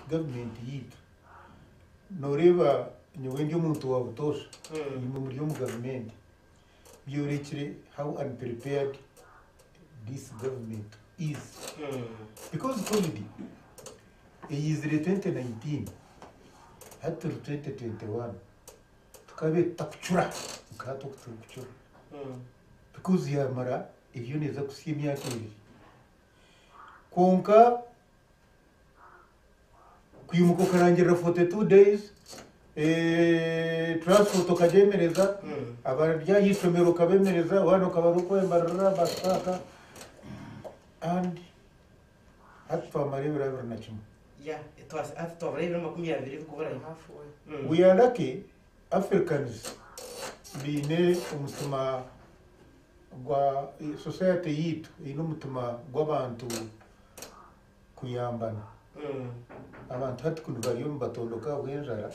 Government yaitu noreeba nyowe ndi omuntu wa butoosha enyima omuri omu government byorekire how unprepared this government is because covid eyaizire 2019 hati turi 2021 tukabaire tutakucura nka hati oku turikucura because yamara eriyo neeza kutsya emyaka ebiri kwonka Kwimuka okarangirira 42 days, eh, transport okagyemereza, abari aha ishomero okabemereza, abaana okabaha oku oyemarira, bus paaka, and hati twamara ebiro abiri na kimwe. Yeah, twa- hati twabura ebiro makumi abiri bikuburayo. Mm. We are lucky Africans baine omutima gwa society yaitu eine omutima gw'abantu kuyambana. Abantu hati kunu bariyo nibatondoka ahabw'enjara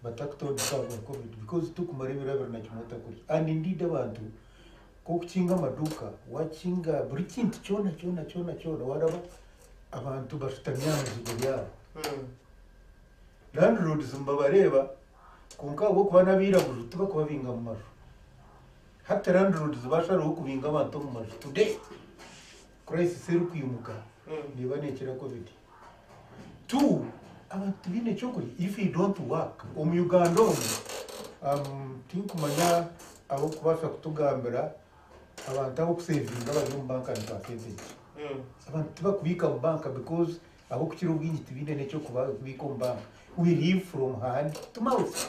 batakutondoka ahabwa covid because turikumara ebiro abiri na kimwe otakurya and indeed abantu nk'okukinga amaduuka wakinga buri kintu kyona kyona kyona kyona waaraba abantu bashutami aha mizigo yaabo. Landlords nibabareeba kwonka ahabw'okuba n'abairaguju tibakubabinga mu maju. Hati landlords baasharaho kubinga abantu omu maju today. Crisis erikwimuka neeba nekira covid. Two, abantu tibaine ekyokurya if you don't work. Omu Uganda omu tinkumanya ab'okubaasa kutugambira abantu ab'okusevinga abari omu banka nitwa sente ki. Abantu tibakubiika mu banka because ab'okukira obwingi tibaine n'ekyokubiika omu banka. We live from hand to mouth.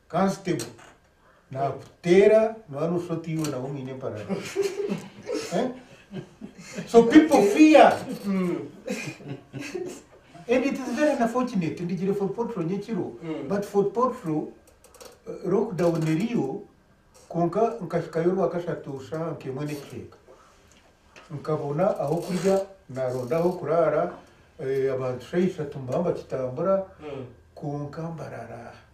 Constable nakuteera noba noshusha oti iwe nawe omwine emparara Eh? so people fear and it is very unfortunate ndigire fort portal nyekiro Mm. but fort portal uh, lockdown eriyo kwonka nkahikayo rwakashatu shaha nkemwe nekicweka nkabona aho kurya naronda aho kuraara eh, abantu shaha ishatu mbamba kitambura Mm. kwonka mbarara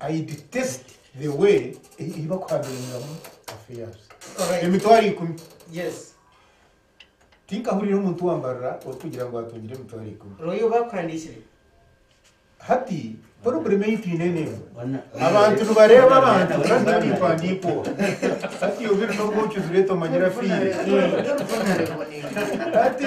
I detest the way eyi baku handlingamu affairs. Alright. Emitwaro ikumi. Yes. Tinkahurira omuntu wambarira orikugira ngu atungire emitwaro ikumi. Roy oba akuhandikire. Hati problem eyi twine nemu. Abantu nibareba abantu kandi nyowe nimpandiika oha. Hati iwe obiri nobwoki ozireta omanyire afiire. Hati.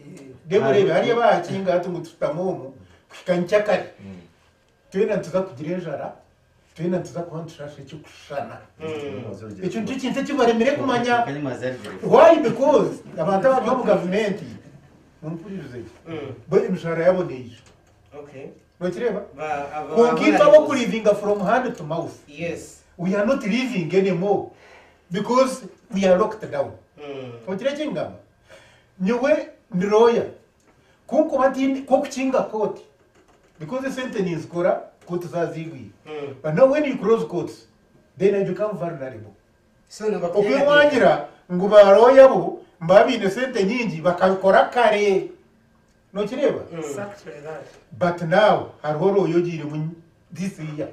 Reeba oreebe, hariya baahakinga hati ngu tushutame omu kuhika nkyakare, twena nituza kugira enjara, twena nituza kuba nitushasha ekirikushushana. Ekyo nikyo kintu ekibaremire kumanya. Why? Because abantu abari omu gavumenti, mumpuririze gye, bo emishahara yabo neijo. Nokireeba? Kwonka itwe ab'okulivinga from hand to mouth, we are not living anymore because we are locked down. Ohikire ekingamba? Nyowe ndi looya, kunkuba ntiine k'okukinga kooti because esente ninzikora kooti zaaziigwire but now when you close courts then I become vulnerable. Okwemwagira ngu ba looya bo nibaba baine sente nyingi bakabikora kare. Nookireeba? But now hariho looya ogiiremu this year,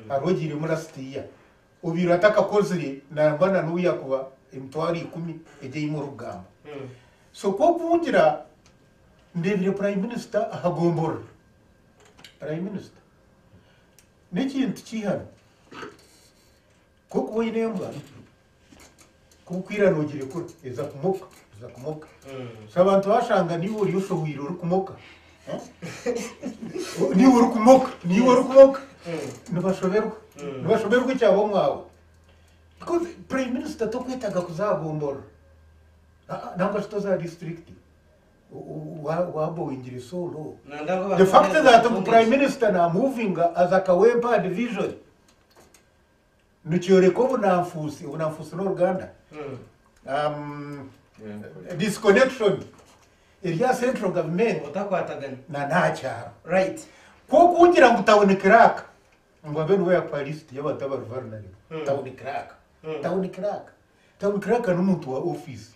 hariho ogiiremu last year, Obaire atakakozire nangwa na n'obu yakuba emitwaro ikumi egi ei murikugamba. So ku okungira, ndeebire Prime Minister aha gomborora. Prime Minister, n'ekintu kiihanu. Ku orikuba oine embwa, Nk'oku ira noogirekura, eza kumoka, eza kumoka. So abantu bashanga niiwe ori oshohwire orikumoka. Eh? niiwe orikumoka, niiwe orikumoka. Nibashoberwa. Nibashoberwa ekyaba omwawe. Because Prime Minister tokwetaga kuza aha gomboro. Ah, ah, nangwa shi toza aha disiturikiti. Wabowingire so low. The fact that ngu Prime Minister namuvinga aza kawempe aha division. nikyoreka obunanfuusi obunanfuusi n'oruganda Um, disconnection eri aha central government otakwatagana na n'aha kyaro right kwonka ugira ngu tawuni kiraka ngu abe niwe yakuha lisiti y'abantu abari vulnerable tawuni kiraka tawuni kiraka tawuni kiraka n'omuntu wa ofiisi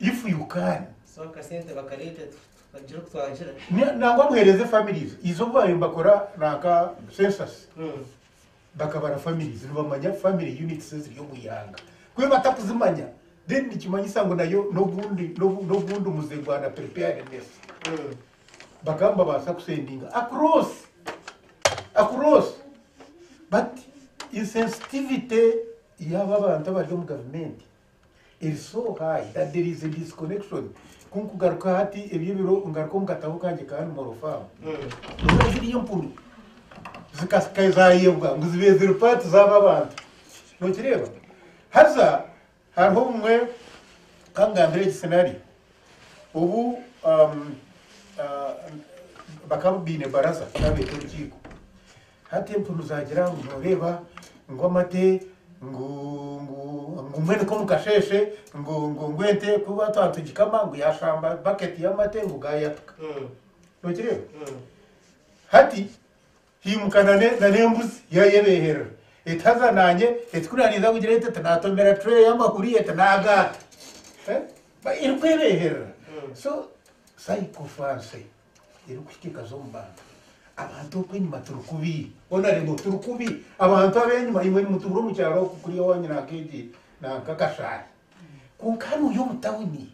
if you can so akasente bakareete bagire oku twagira Ni- nangwa muhereze families izo obu baayo bakora nanka census Mm. bakabara families nibamanya family units eziri omu ihanga kube batakuzimanya then nikimanyisa ngu nayo n'ogundi n'obu- n'ogundi muze gwa na preparedness Mm. bakaba nibabaasa kusendinga across across but insensitivity yaaba abantu abari omu gavumenti Erisooha I had there is a disconnection Ku nkugaruka hati ebyo ebiro ngaruka omu katabo kangye ka Animal Farm ndoora ziri empunu zikasika ezayebwa ngu zibe ziri part zaba abantu nokireeba haza hariho obumwe kangambire egi scenario obu um, uh, bakaba baine baraza babeeta orukiiko Hati empunu zaagira ngu, Nooreeba, ngu amate, ngu, ngu, ngu mbwenu k'omu kasheeshe, ngu, ngu, ngu ente ku ba twa nitugikama, ngu yaashamba baketi y'amate ngu gaayatuka. Nookireeba? Hati, hiimuka na ne, na n'embuzi yaayebeeherera, eti, Haza naanye, eti, ku naaniinza kugira ente, eti, naatomera tureeyi y'amahuri, eti, naagaata. Ba, erikwebeeherera. So, psychophancy. erikuhika ekaza omu bantu. Abantu oku enyima turi kubi. Ona reba turi kubi. Abantu ab'enyima imwe nimutubura omu kyaro oku kuri ewanyu nanka egi nanka akashaayi. Kwonka hanu ori omu tawuni.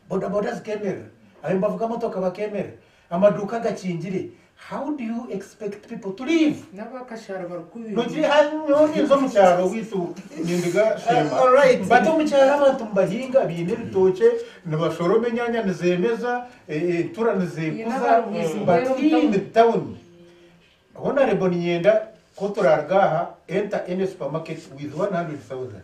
Bodaboda zikemerera. Ababavuga motoka bakemerera. Amaduuka gakingire. How do you expect people to live? Nogire aha nyowe ninza omu kyaro oweitu nindiga Sheema. But omu kyaro abantu nibahinga, baine ebitookye, nibashoroma enyaanya nizeemeza, entura nizeekuza but hii in the town, honourable niinyenda ku turaaruga aha enter any supermarket with one hundred thousand.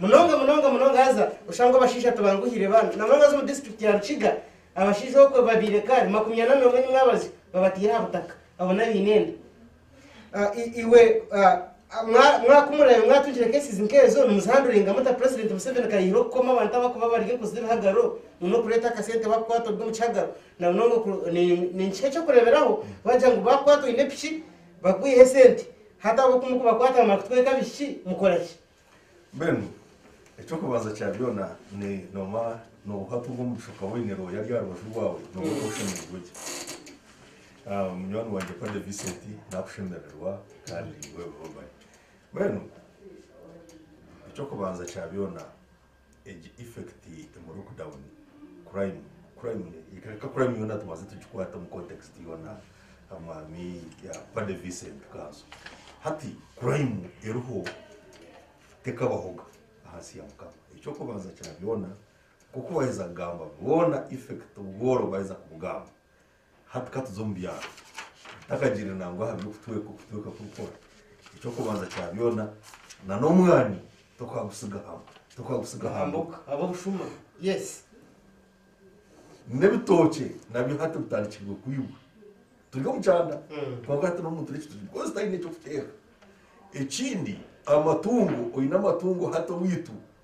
Munonga munonga munonga haza oshanga abashaija tibanguhire baana na munonga haza omu district ya Rukiga abashaija okwe babaire kare makumi ana n'omwe enyuma abazyo babataire aha butaka abo n'abaine enda. Ah, i- iwe ah, ah, mwa- mwakumurabe mwatungire cases nk'ezo nimuzihanduringa muta president Museveni kayihire okukoma abantu abakuba bari enkozi z'ebihagaro ngu n'okureeta akasente bakukwata obwe omu kihagaro na munonga oku- ni- ni kiki eky'okureeberaho bagira ngu bakukwata oine piki bakwihe esente hati ab'oku mukubakwata bamara kutweka abishiki mukora ki? Mbwenu eky'okubanza kya byona ni noba nobuha tu bw'omugisha okaba oyine roho yari aha rubaju rwawe noba okaba oshemerirwe gye. Munywani wangye Padre Vincent nakushemererwa kandi webihobahe. Mbwenu eky'okubanza kya byona. Egi effect emu lockdown crime crime reka crime yona tubanze tugikwate omu context yona amaami ya Paddy Vincent Kanso hati crime eriho tekabahoga ahansi ya mukama ekyokubanza kya byona nkoku baheza kugamba bona effect obworo baheza kubugamba Hati ka tuze omu byaro. Ntakagiire nangwa aha by'okutweka okutweka kurikora. Eky'okubanza kya byona, na n'omwani tokaagusiga ha, tokaagusiga ha mboga. Ab'obushuma, yes. N'ebitookye nabyo hati bitandikirwe kwibwa. Turi omu kyanda, kwonka hati n'omuntu n'ekitookye because taine eky'okuteeka. Ekindi, amatungo, oine amatungo hati owaitu.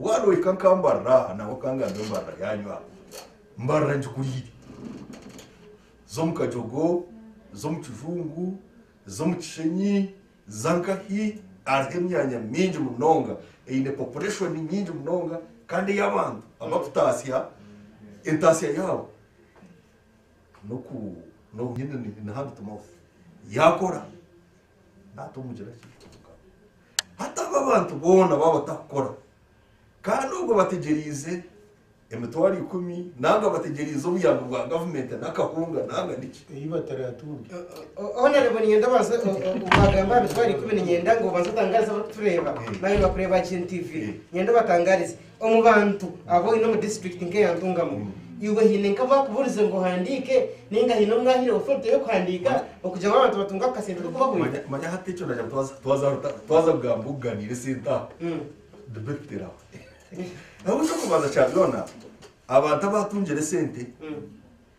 Waaba ohika nkambarira aha nangwa okangambe embarira yaanyu aha, mbarira ngikuriire. Z'omu Kajogo, z'omu Kijungu, z'omu Kishenyi, za nkahi, hariho emyanya mingi munonga eine population nyingi munonga kandi ey'abantu abarikutaasya entaasya yaabo n'oku, n'obu nyine ni hand to mouth, yaakora. naatumugira ki kwonka? Hati abo abantu boona baaba batakukora, kandi obwo bategyereize emitwaro ikumi nanga bategyereize obuyambi bwa gavumenti n'akahunga nanga niki? Ei bataraatunge. Honorable niinyenda obanze waagamba aha mitwaro ikumi niinyenda ngu obanze otangaarize abarikutureeba nari abarikureeba Gen TV. Niinyenda obatangaarize. Omu bantu abu oine omu disiturikiti nk'eya Ntungamo, iwe haine nk'abu akuburize ngu ohandiike nainga haine omu ahaire otoriti y'okuhandiika okugira ngu abantu batunge ako kasente k'okubahwera? Manya hati ekyo naagira ngu twaza kugamba okuganiira esente aho, debate kuteera aho. Ahabw'enki? Eky'okubanza kya byona, abantu abu atungire esente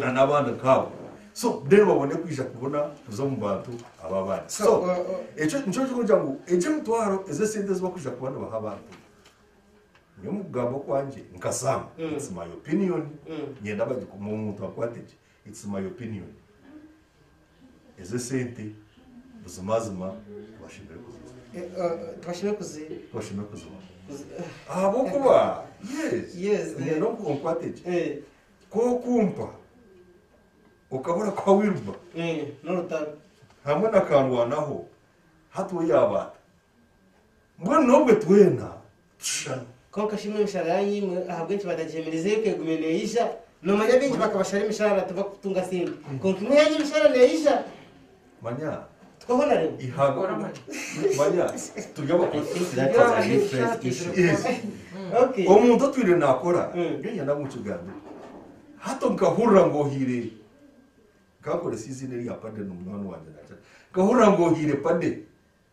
na nabandi nkabo so then babone kwija kubona kuza omu bantu aba abandi so ekyo nikyo kikugira ngu egyo emitwaro ezo esente ezi bakwija kuba nibaha abantu nyowe omu kugamba okwangye nka sam it's my opinion nyenda bagikume omuntu akwate gye it's my opinion ezo esente buzimazima tibashemereire kuzibaha Eh, eh, tibashemereire kuzi tibashemereire kuzibaha kuzi- ahabw'okuba yes Yes, eh. nyenda oku- onkwate gye Eh, Ku okumpa okaba orakuha Wilber Eeh n'orutaro. hamwe na kandwanaho hati ou yaaba ata? Mbwenu n'obwe twena tushushana. Kwonka shi imwe emishara yaanyu imwe ahabw'enki batagihemerizeyo ku egume neija? Noomanya baingi bakabashara emishaara tibakutunga sente. Kwonka imwe yaanyu emishaara neija. Manya. Tukaho na rimwe. Ihagwa Kora amaju. manya turi abakozi That is a different issue. Yes. Okay. omuntu otwire nakora Mm. nyowe nyenda ngu nkigambire hati nkahurira ngu ohiire kankorese eiziina erya pade nomunywani wangye nagira nkahurira ngu ohiire pade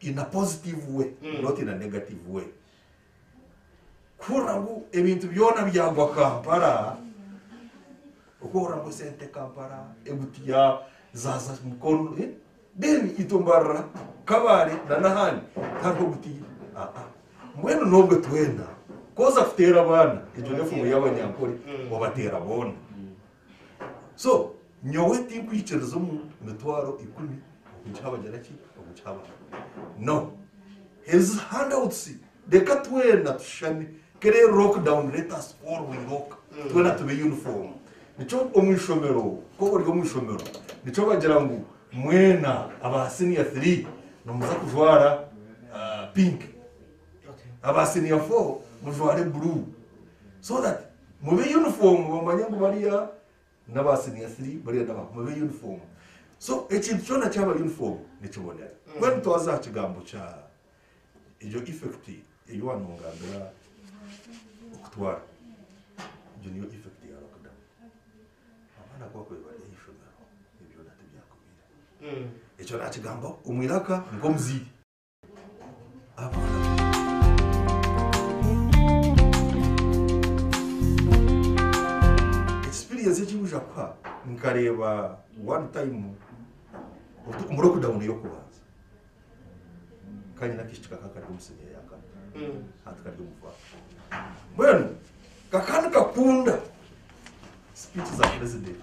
in a positive way not in a negative way kuhurira ngu ebintu byona byagwa Kampala okuhurira ngu esente Kampala egutiya zaza Mukono eh? then itwe mbarira Kabale na nahandi tihariho ogutiya ah ah mbwenu nobwe twena koza kuteera abaana egyo nefumu yabanyankore obateera boona So nyowe tinkwikiriza omu mitwaro ikumi okugiha abagira ki? Okugiha abantu. No. Ezi handouts reka twena tushushane. Ka ere lockdown let us all we lock. Twena tube uniform. Nikyo omu ishomero ku ori omu ishomero nikyo bagira ngu mwena aba senior three nimuza kujwara ah, pink. Aba senior four mujware blue. So that Mube uniform bamanye ngu bariya naba senior three bariya naba mube uniform so ekintu kyona kyaba uniform nikibonera mbwenu mm. twaza aha kigambo kya egyo effect eyi wanongambira okutwara egyo niyo effect ya lockdown abaana kuba kwe bari aha ishomero ebyona tibyakubire mm. ekyo nakigamba omwiraka nkomuziire Experience eki bwija kuha nkareeba one time muri okudawuni y'okubanza kanyina akishiki kaka kari omusiniya yakana hati kari omuvara mbwenu kaka nikakunda speech za president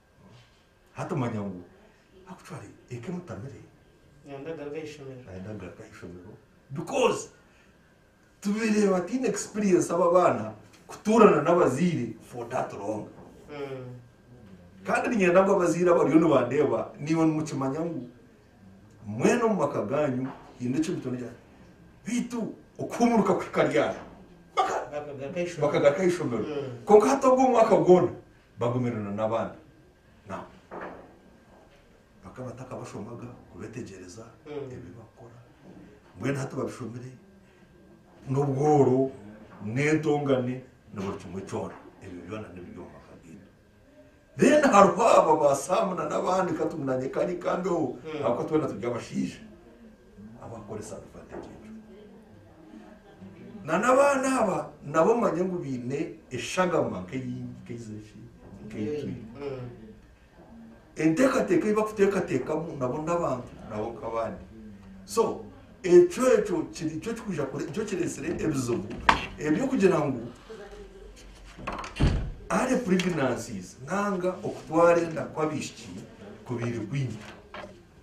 Hati manya ngu actually eka emutamire. Nayenda agaruke aha ishomero. Nayenda agaruke aha ishomero because tubaire bataine experience aba abaana kutuurana n'abazaire for that long. Kandi niinyenda ngu abazaire abariyo nibandeeba niiwe nimukimanya ngu mwena omu maka gaanyu haine eki mutaine eki beitu okuhuumuruka kuhika ryari? Bakagaruka aha ishomero. Kwonka hati ogwo omwaka gwona Bagumire na n'abandi nabo bakaba batakabashomaga kubetegyereza ebi bakora mbwenu hati babishomire n'obworo n'entongane na buri kimwe kyona ebyo byona nibiri omu maka gaitu then hariho aba ba Sam na n'abandi ka timunanyeka nikandi oho ahabw'okuba twena turi abashaija abakukoresa advantage egyo. Na n'abaana aba nabo omanye ngu baine eshagama nk'eyi nk'eizire ki nk'eitu. Enteekateeka ei bakuteekateekamu nabo n'abantu nabo nk'abandi. So ekyo ekyo kiri kyo kikwija kure nikyo kireetsire ebizibu eby'okugira ngu early pregnancies nanga okutwara enda kw'abaishiki kubaire kwingi.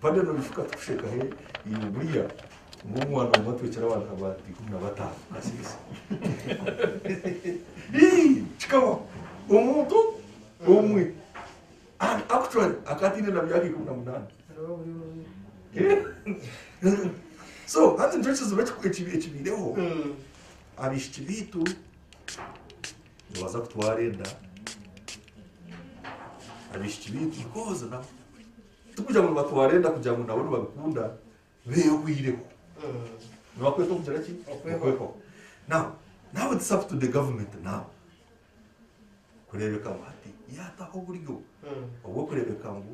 Padre Nolly Katushe Kahe iwe buriya ori omwana omwe atwekire abantu aba ikumi na bataano kasirisa Ii kikabaho omuntu omwe and actually akaba ataine na myaka ikumi na munaana So hati nikyo kizibu ekibaireho abaishiki baitu nibaza kutwara enda abaishiki baitu bakooza nabo. Tikugira ngu nibatwara enda kugira ngu nabo nibabikunda behwireho. Nibakwetwa kugira ki? Okwehwaho. Now, now it's up to the government now kureebeka ngu hati yaataho oburyo obw'okureebeka ngu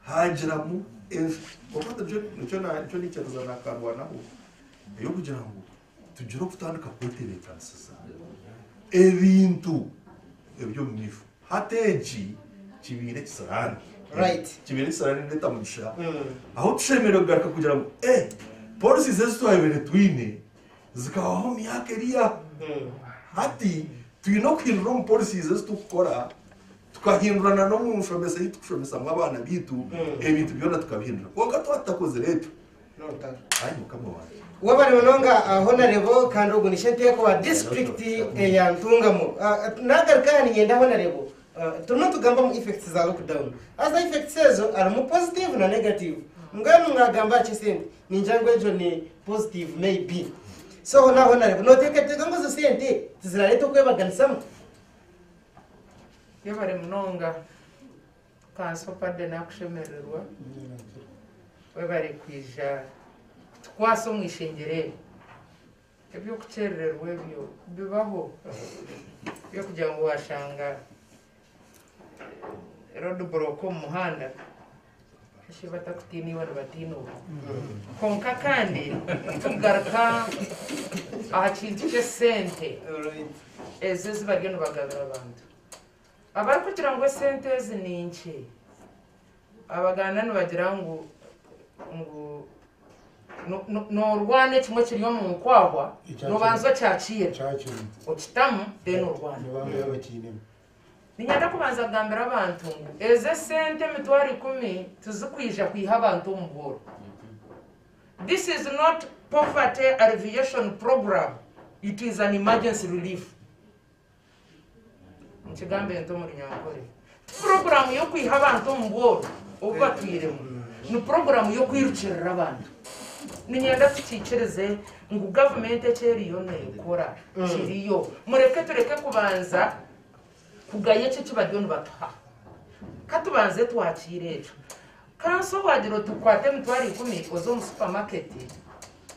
haagiramu ensi. Kwonka hati nikyo nikyo na nikyo niikyereza naakarwanaho, ey'okugira ngu Tugire okutandika kwetebeekanisiza ebintu eby'omu maisho. Hati eki kibaire ekisiraani. Right. Kibaire ekisiraani nireeta mugisha. Ahu tushemereire kugaruka kugira ngu, eh, policies ezi twabaire twine zikabaho omu myaka eri aho. Hati twine okuhindura omu policies ezi turikukora, tukahindura na n'omu nshomesa ei turikushomesamu abaana baitu, ebintu byona tukabihindura. Kwonka twaba tutakozire ekyo, Webare munonga honarebo kandi ogu ni shenteeko wa disiturikiti eya Ntungamo. Nagaruka aha ninyenda honarebo turimu nitugamba omu effects za lockdown haza effects ezo harimu positive na negative mbwenu mwagamba aha kyesente ningira ngu egyo ni positive may be so hona honarebo noteekateeka ngu ezo sente tizirareeta okwebaganisamu? Yebare munonga Ka super de nakushemererwa webare kwija kutukwasa omu ishengyero eri. Ebyokukyerererwa ebyo bibaho ebyokugira ngu washanga road block omu muhanda shi batakutiine iwe nibatiina ogu. Kwonka kandi tukugaruka aha kintu ky'esente ezo ezi bariyo nibagabira abantu. Abarikugira ngu esente ezi ni nkye, Abaganda nibagira ngu ngu no- no- noorwana ekimwe kiri omu nkwahwa, Ekyakira. noobanza okyakiira, kyakira okitamu, then orwane. nibaambeera bakiinemu Niinyenda kubanza kugambira abantu ngu ezi esente emitwaro ikumi tizikwija kwiha abantu omu bworo. This is not poverty alleviation program, it is an emergency relief. Nikigambe nti omu Runyankore, ti puroguraamu y'okwiha abantu omu bworo obu batwiremu, ni puroguraamu y'okwirukirira abantu. Niinyenda tukiikirize ngu gavumenti eki eriyo neekora kiriyo. Mureke tureke kubanza kugaya eki eki bariyo nibatuha. Ka tubanze twakiire ekyo. Kanso waagira oti kwata emitwaro ikumi oze omu supamaketi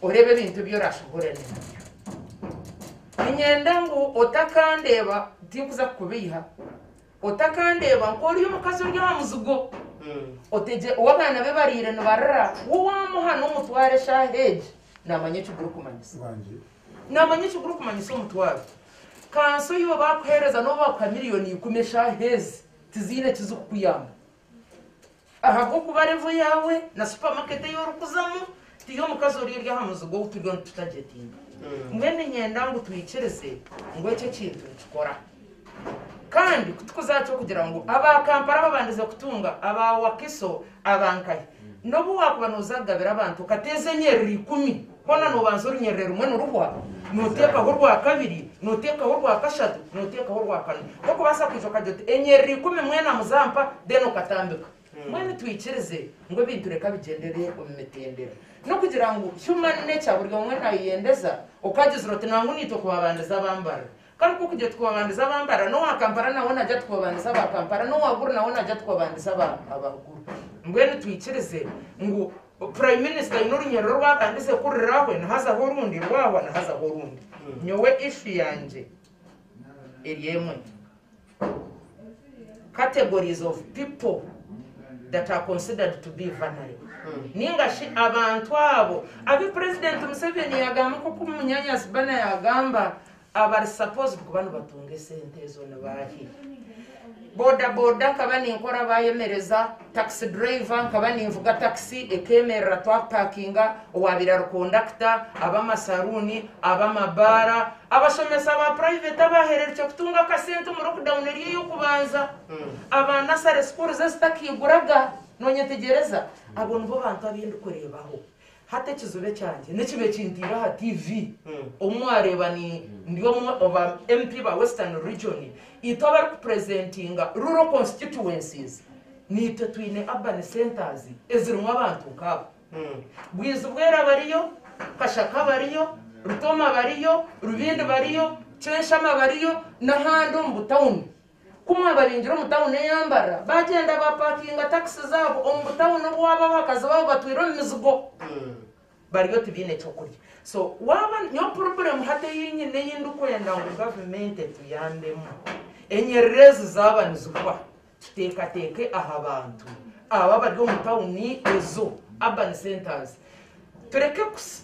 oreebe ebintu ebi oraashoboorane nabyo. Niinyenda ngu otakandeeba, tinkuza kukubeiha, otakandeeba nk'ori omukazi ori aha muzigo, otegye ou abaana be bariire nibarira, we waamuha n'omutwaro eshaaha egi, naamanya eki gurikumanyisa. Naamanya eki gurikumanyisa omutwaro. Kanso iwe baakuheereza n'obu baakuha miliyooni ikumi eshaaha ezi tiziine eki zikukuyamba. Ahabw'okuba revo yaawe na supamaketi ei orikuzamu ti y'omukazi ori eri aha muziga ou turiyo nitutagyetinga. Mbwenu niinyenda ngu twikirize ngu eki ekintu nikikora. Kandi ku tikuzaaha ky'okugira ngu aba Kampala babandize kutunga, aba Wakiso, aba nkahi. N'obu waakuba nooza kugabira abantu okateeza enyiriri ikumi, Hoona noobanza orunyiriri rumwe niruhwa, nooteekaho orwa kabiri, nooteekaho orwa kashatu, nooteekaho orwa kana. Nk'okubaasa kwija okagira oti, Enyiriri ikumi mwena muzampa, then okatambika. Mbwenu twikirize ngu ebintu reka bigyendere omu mitendera. N'okugira ngu human nature buri omwe naayeyendeza, okagyezire oti, Nangwa naitwe kubabandiza bambarira. Karikwo kugye tukobandiza aba Mpara n'owa Kampala nawe nagya tukobandiza aba Kampala n'owa Gulu nawe nagya tukobandiza aba aba Gulu. Mbwenu twikirize ngu Prime Minister aine orunyerere oru abandize kuriraho ni hazaho orundi rwahwa ni hazaho orundi. Nyowe issue yangye eri emwe. Categories of people that are considered to be vulnerable ninga shi abantu abo abu Purezidenti Museveni yagamba nk'oku Munyaanya Sibana yagamba abari supposed kuba nibatunga esente ezo ni baahi? Boda boda nkaba ninkora baayemereza Takisi duraiva, Nkaba ninvuga takisi ekeemerera twakupakinga, owaabaire ari kondakita, ab'amasaruuni, ab'amabaara, abashomesa ba purayiveti abaahererukye kutunga akasente omu lockdown eri ey'okubanza, aba nasare sukuuru ze zitakaiguraga. Noonyetegyereza? Abo nibo bantu abu ndikureebaho. Hati ekizibe kyangye nikibe kintiire aha TV obu mwareeba ni ndi omwe oba MP ba Western Region, itwe abari ku presentinga rural constituencies niitwe twine urban centers ezirimu abantu nk'abo. Bwizi Bwera bariyo, Kashaka bariyo, Rutoma bariyo, Rubindi bariyo, Kyenshama bariyo n'ahandi omu bu town Ku mwaba baingire omu tauni ey'ambarra, baagyenda baapakinga takisi zaabo omu butauni obu waaba abakazi baabo batwire omu mizigo bariyo tibaine ky'okurya. So waaba, nyowe purobulemu hati ei nyine ei ndikwenda ngu gavumenti etuyambemu, enyiriri ezi zaaba nizihwa, tuteekateeke aha bantu abo abari omu tauni ezo, urban centres, Tureke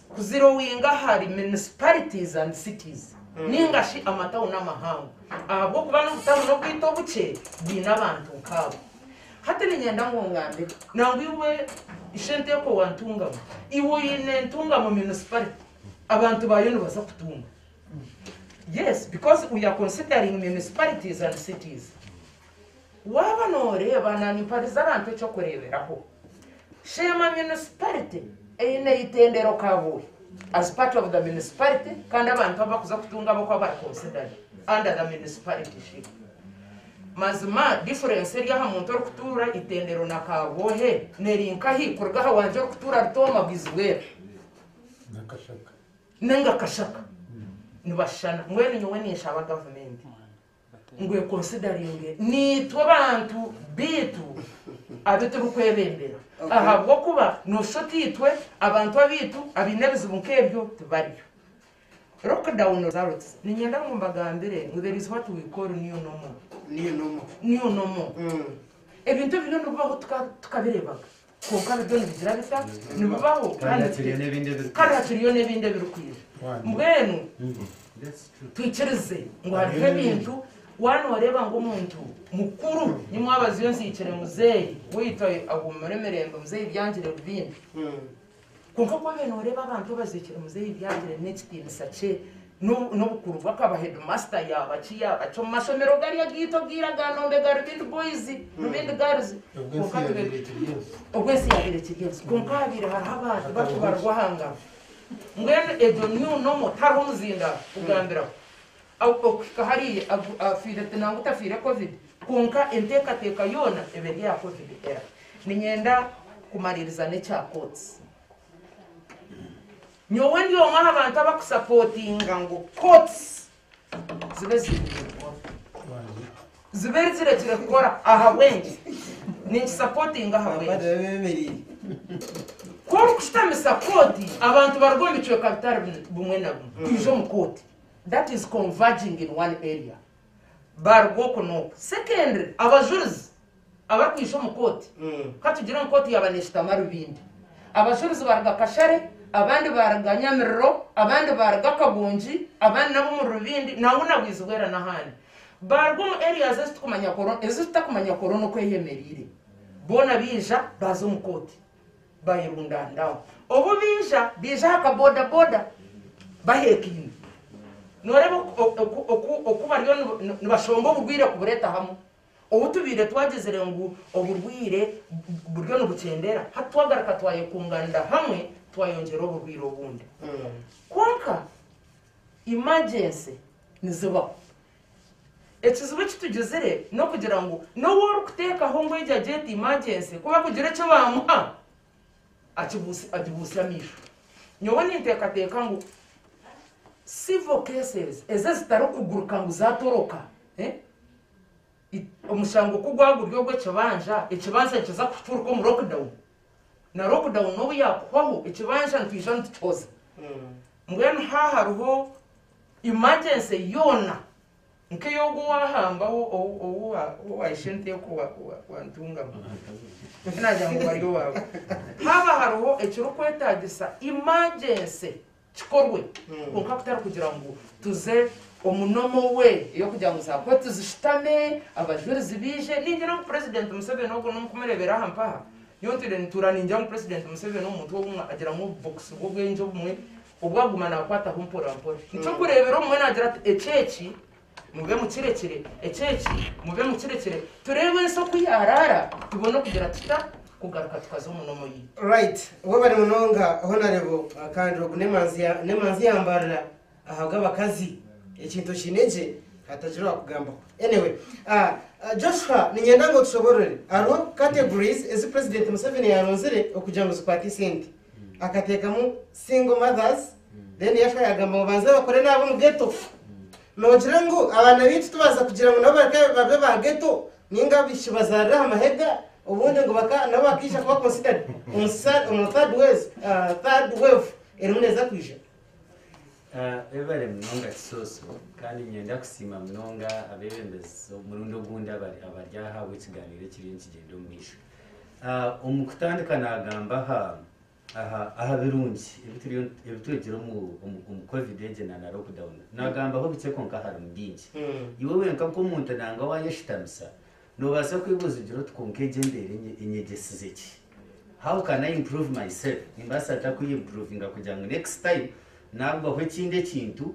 kuzirowinga ahari municipalities and cities ninga shi amatawuni amahango ahabw'okuba n'obutawuni obwaitu obukye bwine abantu nk'abo. Hati niinyenda ngu ongambe nangwa iwe Ishenteeko wa Ntungamo, iwe oine Ntungamo municipality abantu baayo nibaza kutunga? Yes, because we are considering municipalities and cities. Waaba nooreeba naanyimpaririza abantu eky'okureeberaho, Sheema Municipality eine eitendero Kabohe as part of the Municipality kandi abantu abu barikuza kutunga ab'oku bari considered under the Municipalityship. Mazima difference eri aha muntu orikutuura eitendero na Kabohe neri nkahi kuruga aha wangye orikutuura Rutooma Bwizibweru ninga Kashaka? Nibashushana? Mbwenu nyowe ninshaba gavumenti ngu ekonsidaringe naitwe abantu baitu abu turikwebembera ahabw'okuba noshusha oti itwe abantu abaitu abaine ebizibu nk'ebyo tibariyo. Lockdown results, Niinyenda ngu mbagambire ngu there is what we call new normal, new normal, ebintu ebi biriyo nibibaho tukabireebaga. Kwonka biriyo nibigira bita? Nibibaho kandi nibiteeka. Kandi hakiriyo n'ebindi ebirikwija. Mbwenu twikirize ngu hariho ebintu waaba nooreeba ngu omuntu mukuru, nyi mwabaziyo nzihikire muzeeyi waitu ahuumure mirembe, muzeeyi Byangire Rubindi. Kwonka ku waabaire nooreeba abantu abazeekyire muzeeyi ebi yaagire n'ekitiinisa kye n'obukuru bwe akaba heedimaasita yaaba ki yaaba ki omu mashomero garya gaitu agaira ga Nombe ga Rubindi Boys, Rubindi Girls. Obwo ensi yaabaire ekiri ensi. Obwo ensi yaabaire ekiri ensi. Kwonka haabaire hariho abantu bakubarirwaho aha ngaro. Mbwenu egyo new normal tihariho muzindaaro kugambiraho. Okuhika hariya, afiire ati nangwa tafiire Covid, kwonka enteekateeka yoona eba eri aha Covid era niinyenda kumaririza n'ekya Courts. Nyowe ndi omwe aha bantu abakusapootinga ngu Courts zibe ziiniire kukora, zibe zirekire kukora ahabw'enki? Ninkisapootinga ahabw'enki? Ku orikushutamisa kooti abantu baruga omu bicweka bitari bimwe na bimwe kwija omu kooti, that is converging in one area baruga oku n'oku secondly abajurizi abarikwiija omu kooti katugire ngu kooti yaaba neshutama Rubindi abajurizi baruga Kashare abandi baruga Nyamiriro abandi baruga Kagongi abandi n'ab'omuri Rubindi nangwa na Bwizibwera n'ahandi baruga omu areas ezitukumanya koro ezitutakumanya koro n'oku eyemereire boona baija baaza omu kooti bayerundaniraho. Obu baija, baija aha kabodaboda baheekaine. Nooreeba oku bariyo nibashomba oburwaire kubureeta hamwe. Obu tubaire twagyezire ngu oburwaire buriyo nibukyendera, hati twagaruka twayekungaanira hamwe twayongyera oburwaire obundi. Kwonka imagyeensi nizibaho. Ekizibu eki tugizire n'okugira ngu n'owu orikuteekaho ngu egi agyete imajensi ku bakugira eki baamuha agibuutsya amaisho. Nyowe ninteekateeka ngu civil cases ezi ezitarikuguruka ngu zaatoroka, omushango ku gwaba guri ogw'ekibanja, ekibanja nikiza kuturuka omu lockdown, na lockdown n'obu yaakuhwaho ekibanja nitwija nitukihoza. Mbwenu haaha hariho Emergency yoona nk'eyi ogwo owaahamba owaahisha ente okwo wantungamu, nyowe naagira ngu bari owaabu. Haaba hariho ekirikwetaagisa emergency kikorwe, kwonka kutarikugira ngu tuze omu normal way ey'okugira ngu za kooti zishutame, abajurizi baije. Ningira ngu Purezidenti Museveni ogwo n'omu kumureebera aha mpaha, nyowe ntiire nintuura ningira ngu Purezidenti Museveni omuntu obumwe agiramu obubokisi bw'obwengye obumwe Obwo aguma naakwataho mporampora. Niturikureebera omwe naagira ati, Ekyo eki mube mukirekire, ekyo eki mube mukirekire. Tureeba ensi oku yaaraara, tubone okugira tuta kugaruka tukaza omu nomu yaitu. Right. Webale munonga Honarebo kandi ogu nemanzi nemanzi yambarira ahabwabakazi ekintu okiine gye hatagira owakugambaho anyway ahh Joshua ninyenda ngu otushobororere hariho categories ezi president Museveni yaronzire okugira ngu zikwate esente. akateekamu single mothers then yashwa yagamba ngu banze bakore n'ab'omu ghetto. Noogira ngu abaana baitu tubaasa kugira ngu nabo bareke babe ba ghetto nainga abaishiki bazaarire aha mahega obundi ngu baka nabo bakaija kuba considered omu sa omu third ways ah third wave erimu neeza kwija. Webare munonga Kisooso kandi niinyenda kusiima munonga abeebembezi omurundi ogundi abari abari aha ahabw'ekigaaniiro ekiriyo nikigyenda omu maisho. Omu kutandika naagamba aha birungi ebi twegire omu covid egi na lockdown. Naagambaho bikye kwonka harimu bingi. Iwe wenka nk'omuntu nangwa waayeshutamisa, noobaasa kwebuuza ogira oti, Kwonka egi embeera enyegyesize ki? How can I improve myself? Nimbaasa nta kweyimpruvinga kugira ngu next time naagwaho ekindi ekintu,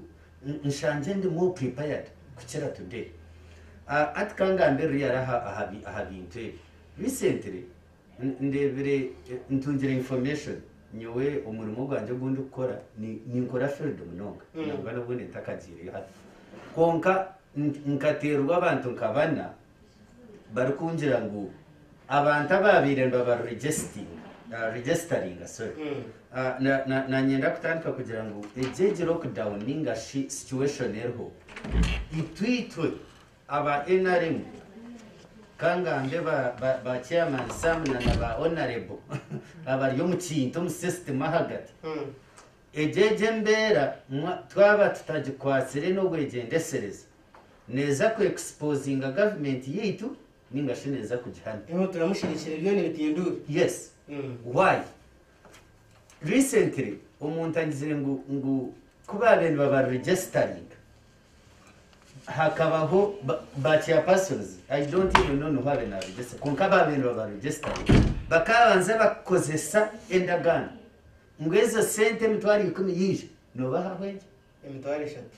Nshangye ndi more prepared kukira today. Hati ka ngambirire yare aha bintu ebi. Recently ndebire, ntungire information, nyowe omurimo gwangye ogu ndikukora, ninkora field munonga nangwa n'obundi ntakagyireyo hati. Kwonka nkaterwa abantu nka bana barikungira ngu abantu abaabaire nibabaregisitaringa nanyenda kutandika kugira ngu egyo egi lockdown ninga shi situation eriho itwe itwe aba nrm ka ngambe ba chairman Sam na ba honourable abari omu kintu omu system ahagati egyo egi embeera twaba tutagikwatsire n'obwegyendetserezi Neeza ku exposinga government yaitu ninga shi neeza kugihana? Eho turamusherekire byo nibitinduura. Yes why? Recently omuntu angizire ngu ngu ku baabaire nibaba registeringa hakabaho ba ba chairpersons I don't even know niho abaire na registeringa kwonka abaabaire nibaba registeringa bakaabanza bakukozesa endagaano ngu ezo sente emitwaro ikumi yaija noobahaho egyo Emitwaro eshatu.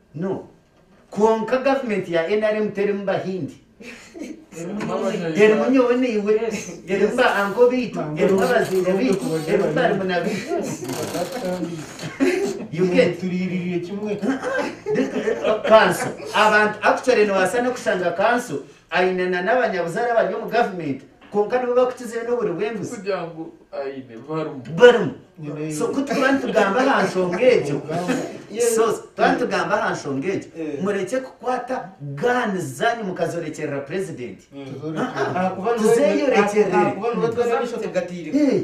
No. Kwonka government ya nrm terimu bahindi. Erimu nyowe naiwe. Erimu ba uncle baitu. Erimu abazaire baitu. Erimu barumuna baitu. You get? Kanso. Abantu actually nobaasa nokushanga kanso aine nana abanyabuzaare abari omu government. Kwonka nibo bakukizire n'oburi bw'embuzi. Barimu. So ku turikuba nitugamba aha nshonga egyo, so twaba nitugamba aha nshonga egyo, murekye kukwata guns zaanyu mukazoorekyerera Purezidenti. Tuzeeyorekyerere. Ahakuba nibo twena ab'eishoto gatairemu.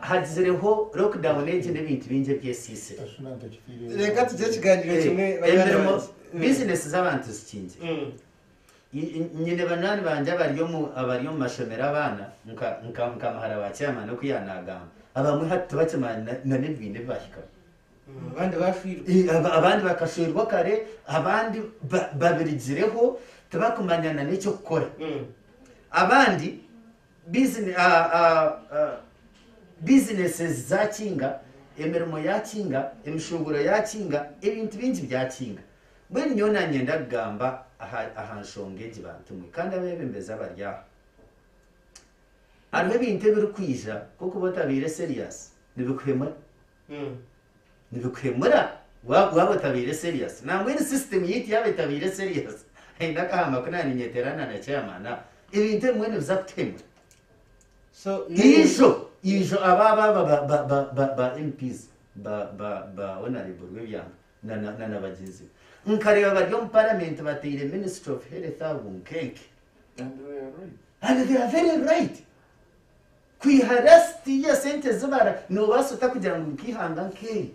Hagizireho lockdown egi n'ebintu bingi ebyesiisire. Reka tugire ekiganiro kimwe banywani bangye. Bizinesi z'abantu zikingire. Nyine banywani bangye abari omu mashomero abaana nka muhara wa chairman oku yaanagamba. Abamwe hati tibakimanyi n'ebi baine ebi baahikamu. Abandi baashwirwe. Abandi bakashwerwa kare, abandi babirigireho tibakumanya n'eky'okukora. Abandi. bizinesi zaakinga, emirimo yaakinga, emishuubuuro yaakinga, ebintu bingi byakinga. Mbwenu nyowe naanyenda kugamba aha nshonga egi bantumwe kandi abeebembezi abari aha. Hariho ebintu ebirikwija ku okuba otabaire seriyasi nibikuhemura. nibikuhemura waaba otabaire serious nangwa eri system yaitu yaaba etabaire serious haine akahamba ku naaninyetera na na chairman aho ebintu ebimwe nibiza kutuhemura so ijo ijo aba aba aba ba- ba- ba- ba- ba mps ba- ba- ba honorable rwebyanga na- na na- na bagyenzi be nkareeba bari omu parliament bateire ministry of health aho bunkenke and they are right. Kwiha resiti y'esente ezi bara noobaasa ota kugira ngu nika eihanga nk'eri?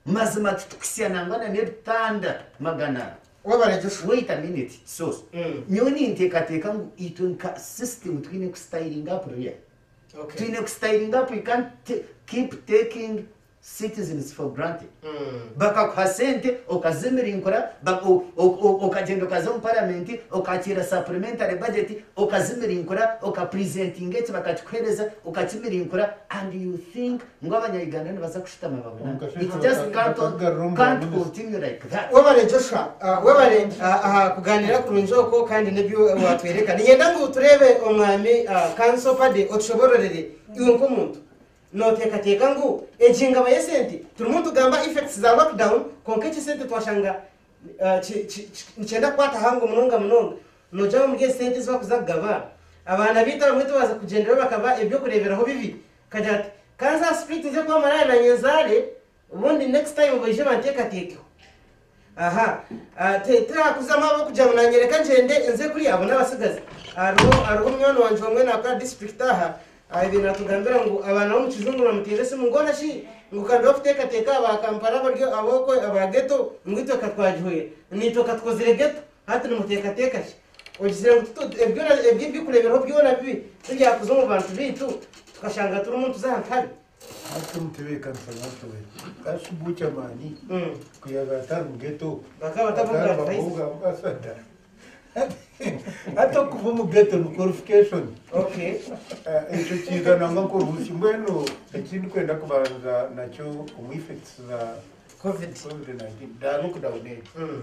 Mazima ki tukisya nangwa na n'ebitanda magana ana? Wabara Joshua. Wait a minute Kisoso, nyowe ninteekateeka ngu itwe nka system twine ku styling up real. Twine ku styling up, we can't keep taking citizens for granted bakakuha sente okazimirinkura okagyenda okaza omu paramenti okakiira supplementary budget okazimirinkura oka presentinga eki bakakikuhereza okakimirinkura and you think ngu abanya Uganda nibaza kushutama babona it just can't continue like that. Webare Joshua webare aha kuganira kurungi okwo kandi nebyo watwereka ninyenda ngu tureebe omwami Kanso Paddy otushobororere iwe nk'omuntu Noteekateeka ngu egi engaba y'esente turimu nitugamba effects za lockdown kwonka eki esente twashanga nikyenda kukwata aha ngo munonga munonga nogira omuri ezi sente ezi barikuza kugaba abaana baitu abamwe tibaaza kugyenderayo bakaba ebyokureeberaho bibi kagira ati, Ka nza aha street nze kuba maraaya na nyenzaare Obundi next time baije banteekateekeho. Aha ah ti tirakuzamu ahabw'okugira ngu naanyereka ngyende nze kuri abo n'abatsigazi. Hariho hariho munywani wangye omwe naakora district aha ah ebyo naatugambira ngu abaana b'omu kijungu nibamuteera esimu ngu ona shi ngu ka nduha kuteekateeka aba Kampala abari ab'okwe aba ghetto ngu itwe ka twagihwera. Naitwe ka tukozire ghetto hati nimuteekateeka ki? Ogizire ngu titu ebyo byona ebyo eby'okureeberaho byona bibi tibyakuza omu bantu baitu tukashanga turimu nituza aha nkabi? Hati mutebeekanisa mutyo we. Ka Shugu Kyamaani ku yaabaire atari mu geto, akarabaho bwa bwaswa da. Hati okuba omu geto ni qualification. Ekyo kiija nangwa nk'obuusi. Mbwenu eki ndikwenda kubanza nakyo omu effects za covid nineteen, daabi okudawuna egyo.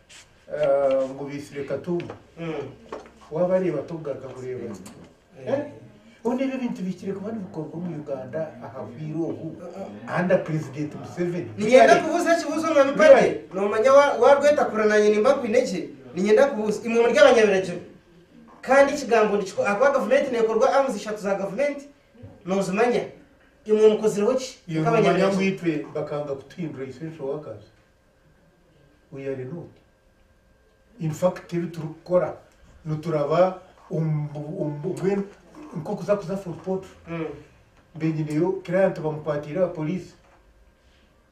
ngu baitsire katumba wabareeba tokugaruka kureeba boona ebi ebintu bihikire kuba nibikorwa omu uganda aha bwire obu under president museveni ninyenda kubuuza ekibuuzo mwami pade nomanya warwetakura nanye nimba nkwine gye ninyenda kubuuza imwe muri abanyabiragiro kandi ekigambo nikikora ahakuba gavumenti nekorwa arms ishatu za gavumenti nozimanya imwe mukozireho ki nk'abanyabiragiro bakanga kutuhindura essential workers Uyo ari n'oti. In fact ebi turikukora nituraba mbwenu nk'okuza kuza Fort Portal. Mbe nyineyo client bamukwatiire aha poliisi.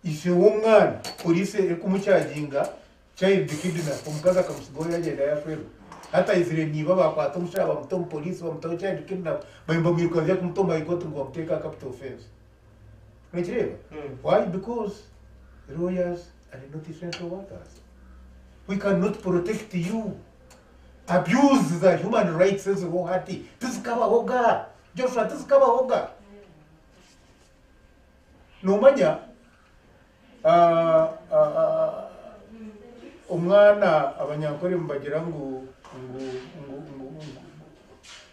Ise w'omwana poliisi erikumucaginga child kidnap, omukazi akamutsigaho yaagyenda yaashwerwa. Hati aizire niiba baakwata omushaija baamuta omu poliisi baamutaho child kidnap, baayo nibamwirukanisa kumuta omu High Court ngu bamuteeke aha capital offence. Nikireeba? Why? Because lawyers are not essential workers. We cannot protect you. Abuse za human rights eziriho hati tizikabaho ga. Joshua tizikabaho ga. Nomanya ah, ah, ah, omwana abanyankore nibagira ngu ngu ngu ngu ngu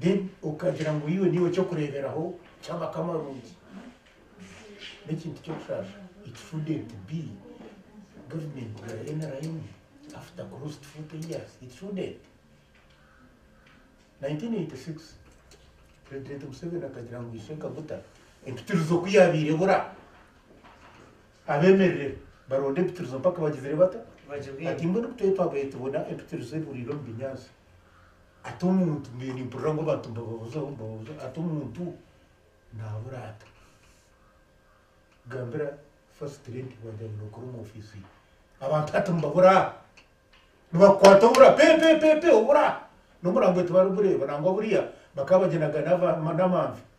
Then okagira ngu iwe niiwe kyokureeberaho ky'amakamo amarungi. N'ekintu ky'okushaasha it shouldn't be government ya nrm after close to 40 years, it shouldn't. 1986 President Museveni akagira ngu ishe Kaguta empitirizo ku yaabaire ebura abeemerere baronde empitirizo mpaka bagizire bata? Ati mbwenu ku twetwabaire tubona empitirizo ebuuriire omu binyaatsi. Ati omuntu, mbwenu nimpurira ngu abantu nibababuzaho, nibababuzaho, ati omuntu naabura ata? Gambira first lady wagira ngu nookora omu ofiisi ye. Abantu hati nibabura, nibakukwata obura pe pe pe pe obura. N'omurambo tibarigureeba nangwa buriya bakaba bagyenda nka n'amanvi.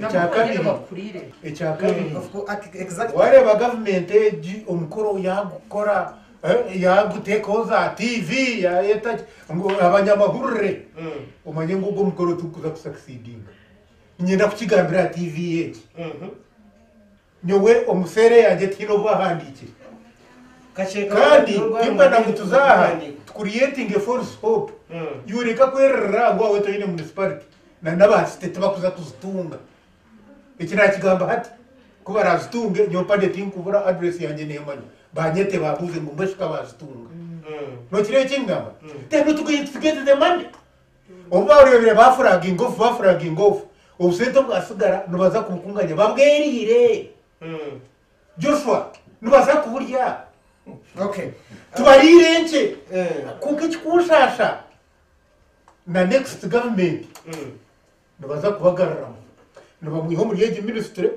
Ekya kabiri, ekya kabiri, waareeba gavumenti egi omukoro yaagukora, eh, yaaguteekaho za tiivi, yaayeta ki, ngu abanyamahurire, mm. omanye ngu ogwo mukoro tigukuza kusakisidinga. Niinyenda kukigambira aha tiivi egi. Mhm. Nyowe omu seere yangye tihaine obu ahandiikire kandi timbwenda ngu tuze aha tu creating a false hope iwe reka kwererera ngu awe toine municipality na naba city tibakuza kuzitunga eki nakigamba hati ku barazitunge nyowe mpade tinkubura address yangye nemanya banyete bambuuze ngu mbwenu shi kabazitunga nokireba eki nkugamba then not going to get the money Obu baareebire baafuraginga ofu, baafuraginga ofu, obusente obwatsigara nibaza kubukunganya babweriire. Joshua, nibaza kuburya. Okay. Tubariire enkye. Kwonka ekikunshasha, na next government nibaza kubagaruramu nibamwiha omuri egi ministry.